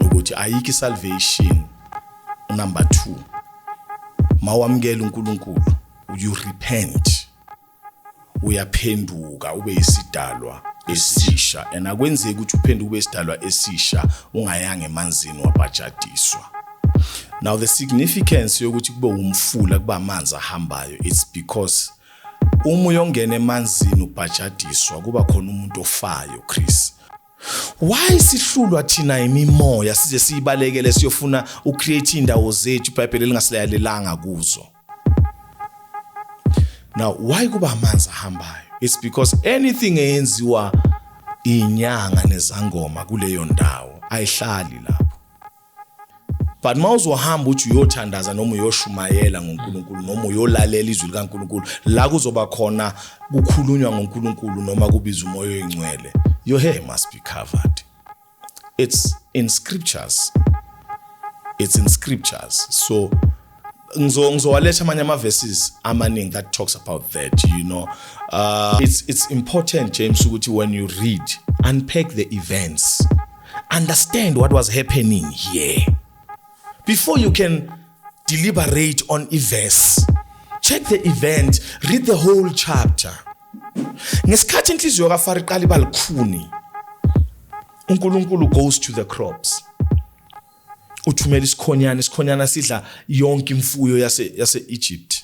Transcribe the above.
ukuthi ayikho isalvation unumber 2 mawamukela uNkulunkulu you repent uyaphenduka ube isidalwa esisha and akwenzeki ukuthi uphenduke ube isidalwa esisha ungayanga emanzini wabhajadiswa now the significance yokuthi kube umfula kuba amanzi ahambayo it's because uma uyongena emanzini ubhajadiswa kuba khona umuntu ofayo Chris Why sihlulwa thina imimoya size siyibalekele siyofuna ucreate indawo zethu iBhayibheli lingasileyalelanga kuzo. Now why kuba amanzi ahambayo? It's because anything eyenziwa inyanga nezangoma kuleyo ndawo ayihlali lapho. but uma uzohamba uthi uyothandaza noma uyoshumayela ngoNkulunkulu noma uyolalela izwi likaNkulunkulu la kuzoba khona kukhulunywa ngoNkulunkulu noma kubiza umoya oyingcwele your hair must be covered it's in scriptures it's in scriptures so ngizo ngizowaletha amanye ama verses amaningi that talks about that you know uh, it's it's important James ukuthi when you read unpack the events understand what was happening here before you can deliberate on a verse check the event read the whole chapter ngesikhathi inhliziyo kaFaro iqala ibalikhuni uNkulunkulu goes to the crops uthumela isikhonyana isikhonyana sidla yonke imfuyo yase yase Egypt